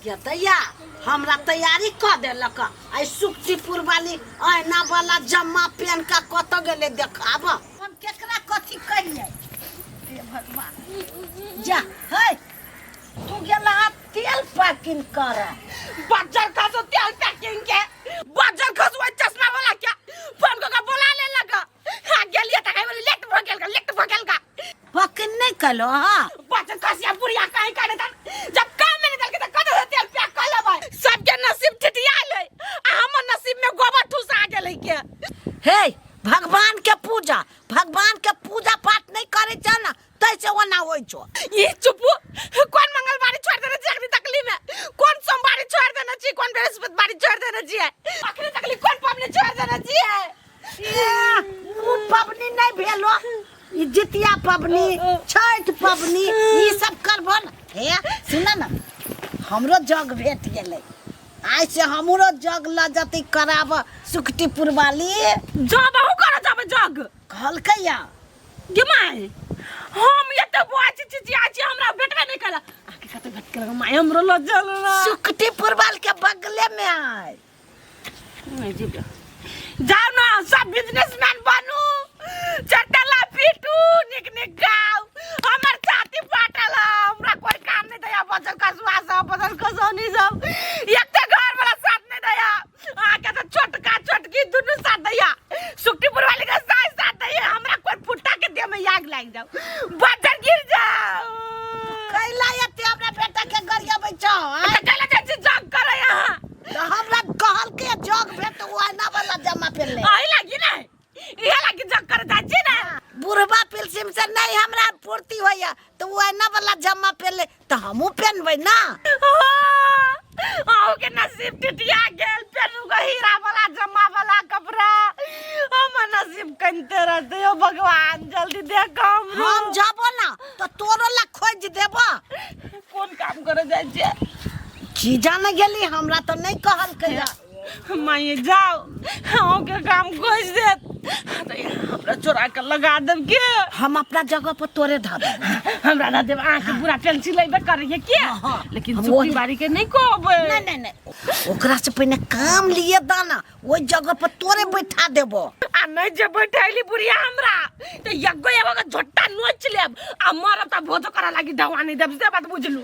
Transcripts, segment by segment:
गेतैया हमरा तैयारी कऽ देलक आइ सुक्तिपुर वाली अहिना वाला जम्मा पेन का कत गेले देखाब हम केकरा कथी कहिए हे भगवान जा है तू गेला तेल पैकिंग कर बजर का तो तेल पैकिंग के बजर खसुआ चश्मा वाला क्या फोन को बोला ले लगा खा गेल ये तकै बोले लेट भ गेल का लेट भ गेल का पकन नहीं कलो हां बच कसिया बुढ़िया काहे करे त जब काम में नहीं दलके त कत से तेल पैक कर लेबै सबके नसीब ठिठियाल है आ हमर नसीब में गोबर ठुसा गेल है के हे भगवान के पूजा भगवान के पूजा पाठ नहीं करे छ ना तै से ओना होइ छो ई चुपू कोन मंगलवारी छोड़ देने छी अखनी तकली में कोन सोमवारी छोड़ देने छी कोन बृहस्पतिवारी छोड़ देने छी अखनी तकली कोन पबनी छोड़ देने छी ओ पबनी नहीं भेलो ई जितिया पबनी छठ पबनी ई सब करबो न हे सुन न हमरो जग भेट गेलै आइ से हमरो जग ल जति कराब सुकटीपुर वाली जब अहू कर जब जग कहलकै या गे माय हम एते बाज चिचिया छी हमरा भेटबे नहीं कला आके कते भेट कला माय हमरो ल जल ना सुकटी पुरबाल के बगले में आय नहीं जी जाओ ना सब बिजनेसमैन बनू चटला पीटू निक निक गाओ हमर छाती फाटल है, हमरा कोई काम नहीं दया बचल कसवा सब बचल कसौनी सब एते घर वाला साथ नहीं दया आके तो छोटका छोटकी दुनू साथ दैया सुक्तिपुर वाले के साथ साथ दैया हमरा कोई फुट्टा के देह में आग लाग जाओ बजर गिर जाओ कैला एते हमरा बेटा के गरिया बैठो तो चला जा छी जग करे यहाँ तो हमरा कहल के जग भेट वो आना वाला जमा पे ले आई लगी नहीं इहे लगी चक्कर जाइ छी ने बुढ़बा पिलसिम से नहीं हमरा पूर्ति होइया तो वो एना वाला जम्मा पहन ले तो हमू पहनबे ना आओ के नसीब टिटिया गेल फेर उगो हीरा वाला जमा वाला कपड़ा हम नसीब कनते रहते हो भगवान जल्दी देख हम हम जाबो ना तो तोरो ला खोज देबो कोन काम करे जाइ छी की जाने गेली हमरा तो नहीं कहल कहिया माये जाओ हाँ के काम खोज दे अरे हमरा चोरा के लगा देब के हम अपना जगह पर तोरे धर हमरा ना देब आँख पूरा टेंशन लेबे करिए के हाँ, हाँ। लेकिन हम सुखी वही- बारी के नहीं कहबे नहीं नहीं नहीं ओकरा से पहले काम लिए दाना ओहि जगह पर तोरे बैठा देबो आ नहीं जे बैठैली बुढ़िया हमरा तो यगो एगो के झोटा नोच लेब आ मरब त भोजो करा लागी दवानी देब से बात बुझलू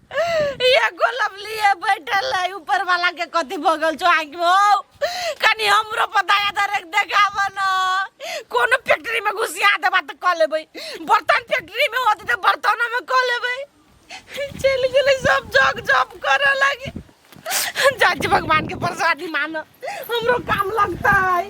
ये गोलम लिए बैठल है ऊपर वाला के कथी भगल छो आंख में ओ कनी हमरो पताया दर एक देखाव न कोनो फैक्ट्री में घुसिया देबा त क लेबै बर्तन फैक्ट्री में होत त बर्तन में क लेबै चल गेलै सब जग जप कर लगे जाज भगवान के प्रसादी मानो हमरो काम लगता है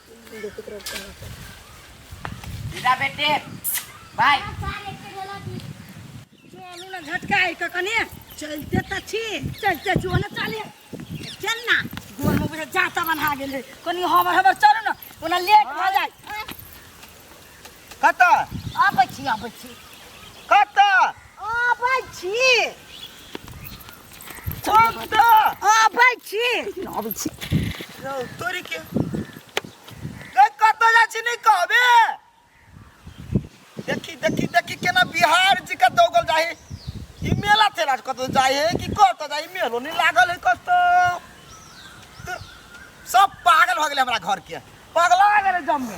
बेटा बेटे भाय चलू ने झटकाइ कऽ कने चलिते तऽ छी चलिते जो ने चले चल ना गोर में बुझे जाता बन्हा गेल है कनी हमर हमर चलू ने ओना लेट भऽ जाय कतऽ आबै छी आबै छी कतऽ आबै छी कतऽ आबै छी आबै छी रौ तोरी के गै कतऽ जाइ छी नहि कहबे देखी देखी देखी केना बिहार जी के दौगल जाइ है ई मेला तेला कतऽ जाइ है कि कतऽ जाइ है? मेलो नहि लागल है कतऽ तऽ सब पागल भऽ गेलै हमरा घर के पगला गेलै जम्मे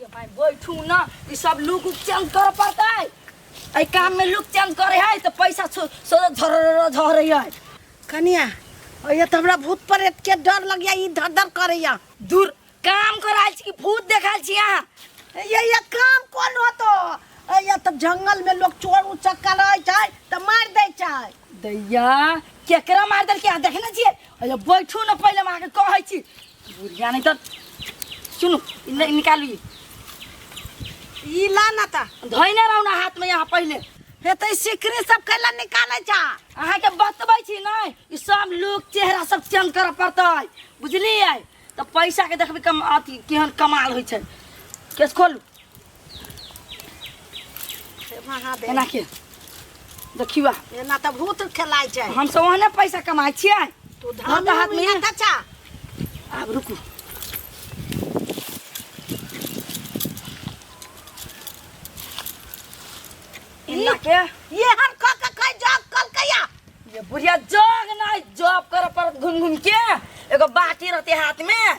ये भाई बैठू ना ई सब लुक उक चेंज कर पड़तै एहि काम में लुक चेंज करे है तो पैसा सो सो झर झर है कनिया और ये तो हमरा भूत प्रेत के डर लग गया ई धर धर करैया दूर काम कराल छी कि भूत देखाल छी अहाँ ये ये काम कोन होतो ये तो जंगल में लोग चोर उचक्का रहे छै तो मार दे छै दैया केकरा मार देलकै अहाँ देखने छियै अरे बैठू ना पहिले हम अहाँके कहै छी बुढ़िया नहीं तो सुनो इन्हें निकालू ये ई ला ना ता धोइने रहू ना हाथ में यहाँ पहले हे तो सिकरी सब कैला निकाले जा अहाँ के बतबै छी नहीं ई सब लोग चेहरा सब चेंज करऽ पड़तै बुझलियै तऽ पैसा के देखबै कम अथी केहन कमाल होइ छै केस खोलू महादेव एना के देखियो आ, एना तऽ भूत खेलाइ छै हम सब ओहने पैसा कमाइ छियै तू धान हाथ हाथ में- में चाचा आब रुकू एना के ये हम खा के खाइ जग कल कया ये बुढ़िया जग नहीं जॉब कर पर घूम घूम के एगो बाटी रहते हाथ में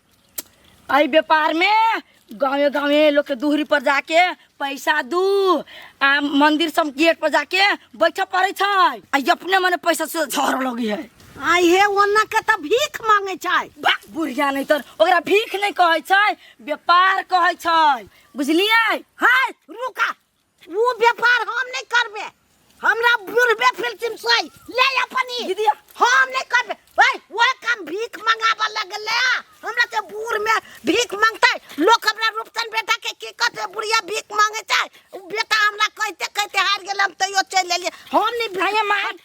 एहि व्यापारमे गाँवे गाँवे लोकके दूहरी पर जाके पैसा दू आ मंदिर सब गेट पर जाके बैठऽ पड़ै छै आ ई अपने मने पैसा से झड़ लगी है आई हे ओना के त भीख मांगे छै बा बुढ़िया नहीं तर ओकरा भीख नहीं कहै छै व्यापार कहै छै बुझलियै हाय रुका ओ व्यापार हम नहीं करबे हमरा बुढ़बे फिल्म से ले अपन ई। दीदी हम नहीं करबे ओए वो काम भीख मंगाबे लगले हमरा ते बूढ़ में भीख मांगते लोग हमरा रूपचन बेटा के की कहते बुढ़िया भीख मांगे छै उ बेटा हमरा कहते कहते हार गेल हम तैयो चल लेलिए हम नहीं भैया मार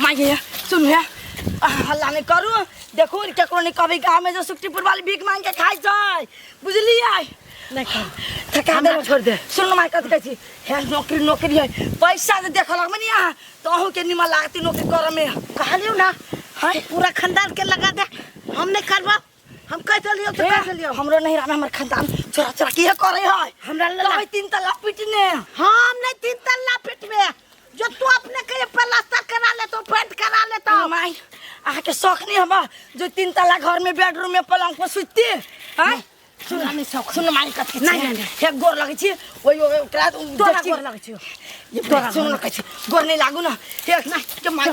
माय गे सुन हे आ, हल्ला नहीं करू देखू केकरो नहीं कहबे गाँव में जो सुक्तिपुर वाली भीख मांग के खाई छै बुझलियै नहीं कर थका दे छोड़ दे सुन माय कथी कहै छी हे नौकरी नौकरी है पैसा जे देखल हम नहीं अहाँ तो अहूँ के निमन लागती नौकरी करऽ में कहलियो ना हाय पूरा खानदान के लगा दे हम नहीं करबा हम कह देलियो तो कह देलियो हमरो नहीं रहना हमर खानदान चोरा चोरा के करे है हमरा ले तो तीन तल्ला पिटने हम नहीं तीन तल्ला पिटबे जो तू अपने के प्लास्टर करा ले तो पेंट करा ले तो माई आ के शौक नहीं हबा जो तीन तल्ला घर में बेडरूम में पलंग पर सुतती हैं हाँ? सुन नहीं शौक सुन माई कत के नहीं नहीं एक गोर लगे छी ओई ओई ओकरा तोरा गोर लगे छी ये तोरा सुन लगे छी गोर नहीं लागू ना एक ना के माई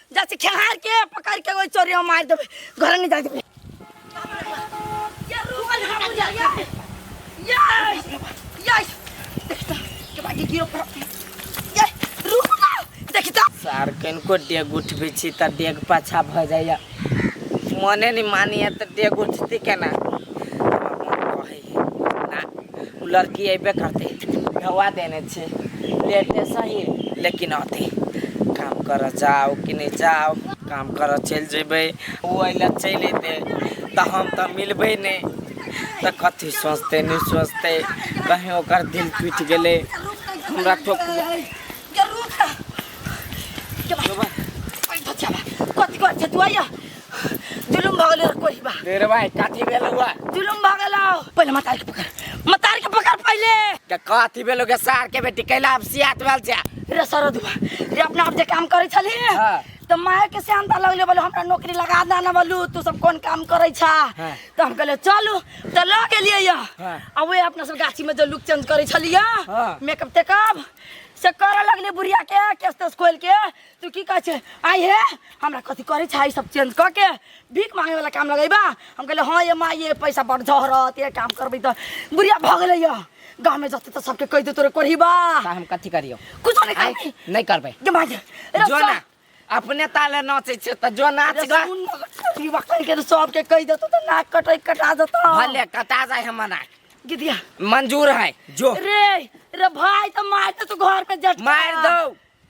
जैसे खेहार के पकड़ के वो चोरी में मार देबे घर नहीं जाए देबे ये रुकल हम जा ये ये ये देखता के बाकी गिरो पर ये रुक ना देखता सार कनको डेग उठबै छी तऽ डेग पाछा भऽ जाइए मने नहि मानैए तऽ डेग उठतै केना हमर मन कहैए ओ लड़की अयबे करतै ढौआ देने छै लेटे सही लेकिन अथी काम करऽ जाओ कि नहीं जाओ काम करऽ चलि जेबै ओ अइला चलि अयतै तऽ हम तऽ मिलबै नहि तऽ कथी सोचतै नहि सोचतै कहीं ओकर दिल टूटि गेलै हमरा ठोक कथी कर छै तू आइया जुलुम भऽ गेलै कोई बा तेरे भाई काथी भेल हुआ जुलुम भऽ गेलौ पहिले मतार के पकड़ मतार के पकड़ पहिले के काथी भेल के सार के बेटी कैला अब सियात भेल छै रे सरद बा रे अपना आप जे काम करै छली हाँ। तऽ माय के श्याम ता लगले बोलो हमरा नौकरी लगा दे ना बोलू तू सब कोन काम करै छा हाँ। तऽ हम कहले चलू तऽ लऽ गेलियै या हाँ। आ वे अपना सब गाछी में जो लुक चेंज करै छलियै हाँ। मेकअप तेकअप से करऽ लगले बुढ़िया के केस तेस खोल के तू की कहै छै आइ हे हमरा कथी करै छै सब चेंज कऽ के भीख मांगे वाला काम लगेबा हम कहले हाँ ये माँ ये पैसा बड़ झहरत ये काम करबै तऽ बुढ़िया भऽ गेलै यऽ गाँव में जते तऽ सबके कहि दे तोरे कोढ़ीबा ता हम कथी करियो कुछ नहीं आँय? करबी नहीं करबै के मांगे जो रस्ता ना अपने ताले नाचे छे त जो नाच ग ई वकल के सबके कहि देतो तऽ नाक कटै कटा देतो भले कटा जाए हमर नाक गिदिया मंजूर है जो रे रे भाई तऽ मार दे तू घर पे जट मार दो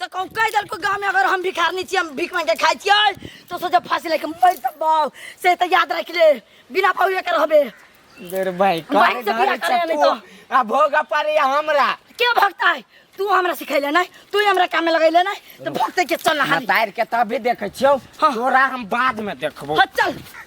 तो कहूँ कह दल को गाँव में अगर हम भिखार नहीं हम भीख मांग के खाई छियै तो सोचे फांसी लेके मर सकबो से तो याद रख ले बिना पौड़े के रहबे देर भाई भाई करे से बियाह धरे करे छे नहीं तू। तो। आ भोग पारे हमरा के भगता है तू हमरा सिखैले नहीं तू ही हमरा काम में लगैले नहीं तो भगते के चल हाली बतार के तभी देखे छियो हाँ। तोरा हम बाद में देखबो हाँ चल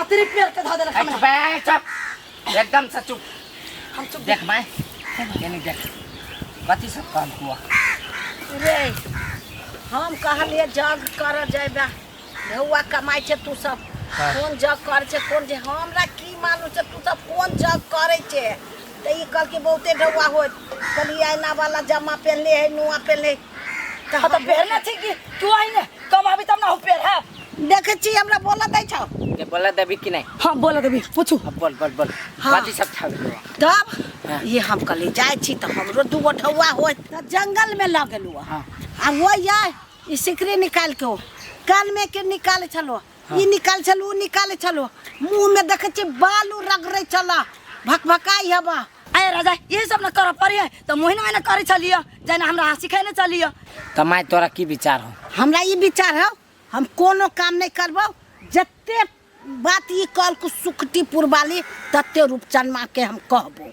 अतिरिक्त पेड़ के धऽ देलक हमरा बे चुप एकदम से चुप हम चुप देख माय एने देख कथी सब काम हुआ रे हम कहलिए जग कर जेबा ढौआ कमाइ छै तू सब हाँ। कोन जग करै छै कोन जे हमरा की मालूम छै तू सब कोन जग करै छै तऽ ई कहलकै बहुते ढौआ होत कहलिए आइना वाला जमा पहनले है नुआ पहनले है हाँ तो पहनना थी कि तू आई ने कम अभी तब ना हो पेड़ है देखे छी हमरा बोला दै छौ ये बोला देवी कि नहीं हाँ बोला देवी पूछू अब बोल बोल बोल हाँ। बाजी सब छाप दो तब हाँ। ये हम कल जाए छी तो हमरो दू गो ढौआ हो जंगल में लग गेलू हाँ। आ वो या ई सिकरी निकाल के ओ कान में के निकाल छलो ई निकाल छलू ओ निकाले छलू मुंह में देखे छी बालू रगड़े छला भकभकाई हवा अरे राजा ये सब न कर पड़ी है तो मोहिन मैंने करे चलिए जना हमरा हंसी खाने चलिए तो माय तोरा की विचार हो हमरा ई विचार है हम कोनो काम नहीं करबो जते बात ई कल को सुखटी पुरबाली तते रूपचंद माँ के हम कहबो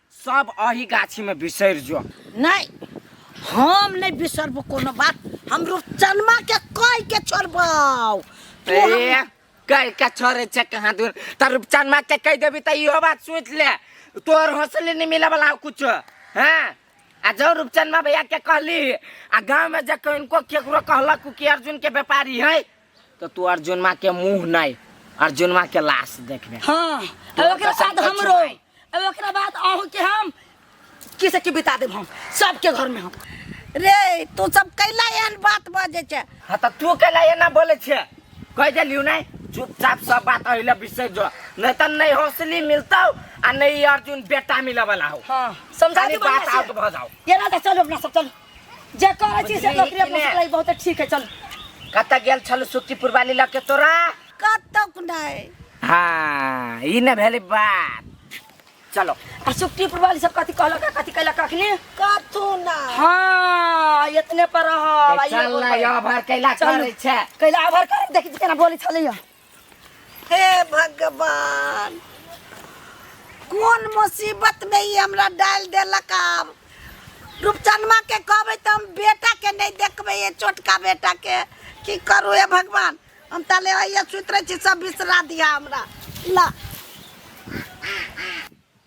सब अही गाछी में बिसर जो नहीं हम नहीं बिसरबो कोनो बात हम रूपचनमा के कह के छोड़बाओ तू हम- ए, कल का छोरे छे कहाँ दूर त रूपचन माँ के कह देबी त इहो बात सोच ले तोर हौसले नहीं मिला वाला कुछ हाँ आ जो रूपचन माँ भैया के कहली आ गाँव में जब इनको केकरो कहलक कि अर्जुन के व्यापारी है तो तू अर्जुनमा के मुंह नहीं अर्जुनमा के लाश देखबे हाँ तो अब ओकरा कसम बाद खा हमरो चुनाई। अब ओकरा बाद अहूँ के हम किसे के बिता देब हम सबके घर में हम रे तू सब कैला एहन बात बाजे छै हाँ तो तू के लिए ना बोले छे कह दिलियो नहीं चुपचाप सब बात अहिले बिसर जो नहीं तो नहीं हौसली मिलता आ नहीं अर्जुन बेटा मिले वाला हो हाँ समझा खाली दी बात बढ़िया आउट से। भ जाओ ये ना चलो अपना सब चलो जे करै छी से नौकरी अपना से लाई बहुत ठीक है चल कत गेल छल सुक्तिपुर वाली लग के तोरा कतक नहीं हाँ ई न भेले बात चलो आ सुक्ति पुरवाली सब कथी कहलक आ कथी कहलक अखनी कतू ना हाँ इतने पर रह चल ना यो भर कैला चल। करे छे कैला आभार कर देखी केना बोली छलैया हे भगवान कोन मुसीबत में ई हमरा डाल देलक आब रूपचनमा के कहबै तऽ हम बेटा के नहि देखबै ये छोटका बेटा के की करू हे भगवान हम ताले आइए सुति रहै छी सब बिसरा दिया हमरा ला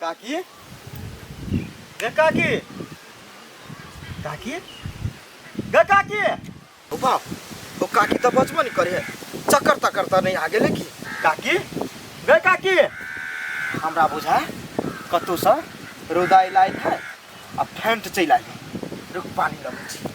काकी गे काकी काकी गे काकी ओ बाप ओ काकी तो बचबो नहीं करे चक्कर तक्कर तो नहीं आगे लेकी काकी गे काकी हमरा बुझा कतौ से रौदा इलाइ है आ फेंट चलि आइ रुक पानी लगे छी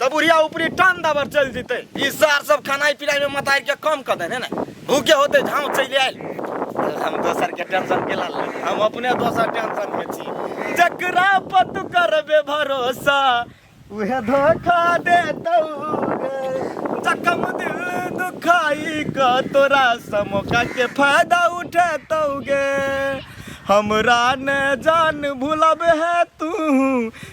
तो बुढ़िया ऊपरी टान दबर चल जीते ई सार सब खानाई पिनाई में मतार के कम कर देने ना भूखे होते झाँव चल आयल हम दोसर के टेंशन के लाल हम अपने दोसर टेंशन में छी जकरा पत करबे भरोसा उहे धोखा देतौ जखम दिल दुखाई का तोरा समोका के फायदा उठेतौ गे हमरा ने जान भूलब है तू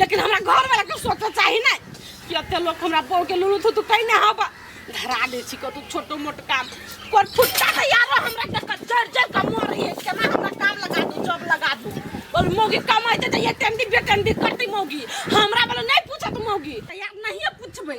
लेकिन हमरा घर वाला के सोच चाही ना कि अते लोग हमरा बहू के लुलू थू तू कहीं ना हबा धरा दे छी कतू छोटो मोट काम कोर फुट्टा तो यारो हमरा के क- जर जर का मोर रही है केना हमरा काम लगा दू जॉब लगा दू और मोगी कमाई दे ये टेंडी बेटेंडी करती मोगी हमरा वाला नहीं पूछत मोगी तो यार नहीं पूछबे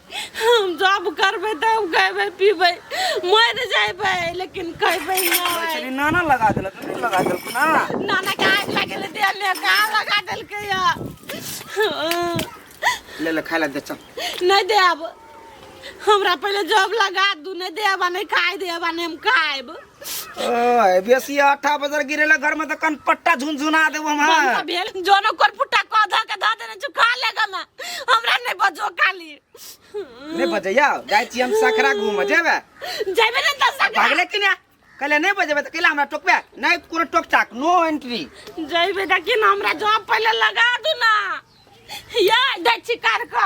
हम जॉब करबै तऽ हम खैबै पीबै मरि जैबै लेकिन खैबै नहि नाना लगा देलक तू लगा देलक ना नाना के आग लगे ले दे ले का लगा देलकै या ले ले खाय ला दे चल नहीं देब हमरा पहले जॉब लगा दू नहीं देब आ नहीं खाए देब आ नहीं हम खाएब ओए बेसी आठा बजर गिरेला घर में तो कन पट्टा झुनझुना देबो हम बंदा हाँ। भेल जोनो कोर पुट्टा को ध के ध देने छु खा लेगा मैं हमरा नहीं बजो काली नहीं बजैया जाय छी हम सखरा घूम जेबे जेबे ने त सखरा भागले कि ना कहले नहीं बजेबे त कहले हमरा टोकबे नहीं कोनो टोक टाक नो एंट्री जेबे त कि हमरा जॉब पहले लगा दू ना या दे छिकार का